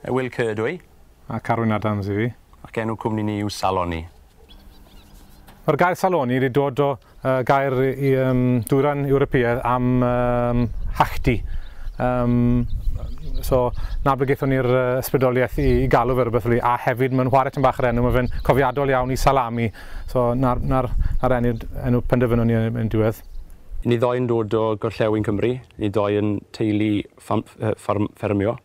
Ewyl Kerr ydw i. A Carwyn Adams i fi. Ac enw cwmni ni yw Saloni. Mae'r gair saloni wedi dod o uh, gair i um, dwyran Ewropeaidd am um, hachdi. Um, so, na be gaethon ni'r uh, ysbrydoliaeth i, i galw fe rhywbeth fel a hefyd mae'n chwarae tyn bach yr enw, mae fe'n cofiadol iawn i salami. So, na'r, nar, nar enw, enw penderfynon ni yn diwedd. Ni ddoi'n dod o gorllewin Cymru, ni ddoi yn teulu ffermio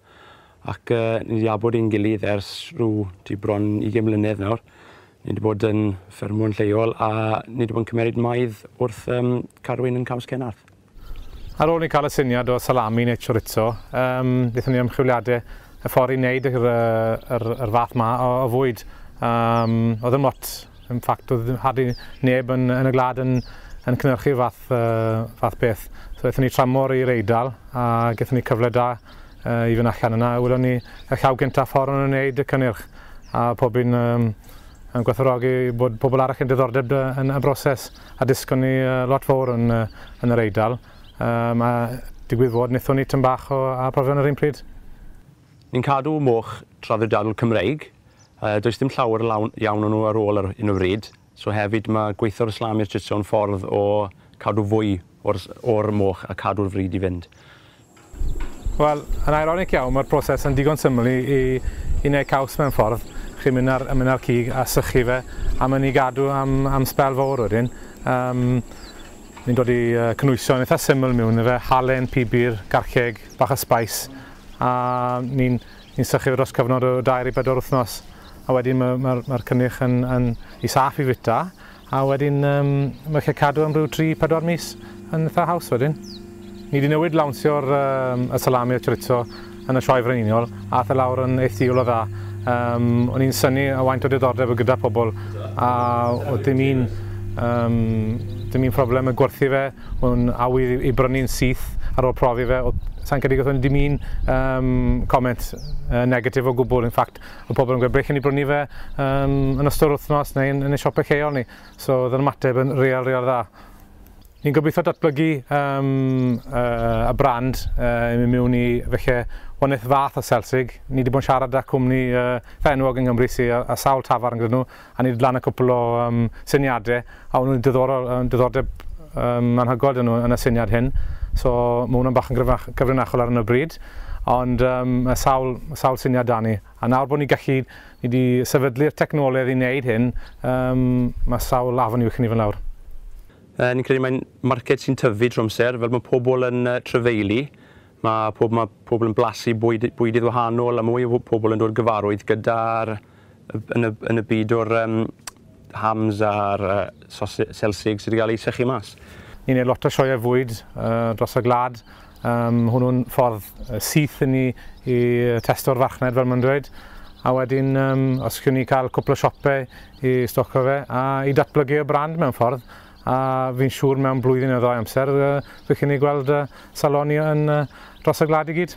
ac ni 'di abod i'n gilydd ers rhyw tua bron ugain mlynedd nawr. Ni 'di bod yn ffermio'n lleol a ni 'di bod yn cymeryd maidd wrth yym carwyn yn Caws Cenarth. Ar ôl i ni cael y syniad o salami neu chorizo, yym nethon ni ymchwiliade y ffor i neud yr yy yr yr fath 'ma o o fwyd. Yym o'dd dim lot Yn ffact, doedd ddim hardly neb yn, yn y gwlad yn, yn cynhyrchu'r fath, uh, fath beth. So aethon ni tramor i'r Eidal a gaethon ni cyfle da uh, i fynd allan yna. Welon ni y llaw gyntaf ffordd yn wneud y cynnyrch a pob un um, yn gwerthorogi bod pobl arall yn diddordeb yn y broses a disgon ni uh, lot fawr yn, uh, yn yr Eidal. Um, a digwydd fod, nithon ni tyn bach o a profion yr un pryd. Ni'n cadw moch traddodiadol Cymreig Yy does dim llawer lawn iawn o nhw ar ôl ar hyn o fryd. So hefyd ma' gweitho'r Islami'r Chitso yn ffordd o cadw fwy o'r o'r moch a cadw'r fryd i fynd. Wel, yn ironic iawn ma'r proses yn digon syml i i i neu caws mewn ffordd. Chi'n mynd ar yn mynd ar cig a sychu fe a ma' ni gadw am am sbel fowr wedyn. Yym ni'n dod i yy cynwyso yn itha syml miwn i fe, halen, pibir, garceg, bach o sbeis a ni'n Ni'n sychu dros cyfnod o dair i bedwar wythnos a wedyn mae'r ma, ma, ma cynnyrch yn, yn i saff i fwyta a wedyn um, mae chi'n cadw am rhyw 3-4 mis yn eitha haws wedyn. Ni wedi newid lawnsio'r um, y salami a chorizo yn y sioe frenhinol a ath e lawr yn eithiol o dda. Um, o'n i'n syni a waint o diddordeb o gyda pobl a oedd dim un, um, dim un problem y gwerthu fe Mae'n awydd i brynu'n syth ar ôl profi fe. Sa'n credu gathon ni dim un um, comment uh, negatif o gwbl. In fact, y pobl yn gweud brechen ni brynu fe um, yn ystod wythnos neu yn, yn y siopau lleol ni. So, oedd yn ymateb yn real, real dda. Ni'n gobeithio datblygu um, uh, y brand uh, i mewn i felly wnaeth fath o Selsig. Ni wedi bod yn siarad â cwmni uh, fenwog yng Nghymru sy'n a, a sawl tafarn gyda nhw. a ni wedi lan y cwpl o um, syniadau, a o'n nhw'n diddorol, um, diddordeb um, anhygol dyn nhw yn y syniad hyn. So mae hwnna'n bach yn gyfrinachol ar hyn o bryd, ond um, mae sawl, sawl syniad da ni. A nawr bod ni gallu, ni wedi sefydlu'r technoleg i wneud hyn, um, mae sawl afon i'w chynifyn lawr. Uh, ni'n credu mae'n marced sy'n tyfu drwy amser, fel mae pobl yn uh, trefeili, Mae pob, mae pobl yn blasu bwyd, bwydydd wahanol a mwy o pobl yn dod gyfarwydd gyda'r yn y, yn y byd o'r um, hams a'r uh, sosig, selsig sydd wedi cael ei sychu mas. Ni'n ei lot o sioeau fwyd uh, dros y glad. Um, hwnnw'n ffordd syth i ni i testo'r farchnad fel mae'n dweud a wedyn um, os chi'n ni cael cwpl o siopau i stocio fe a i datblygu y brand mewn ffordd A fi'n siŵr mewn blwyddyn neu ddau amser, bydd chi'n ei gweld saloni yn dros y gwlad i gyd.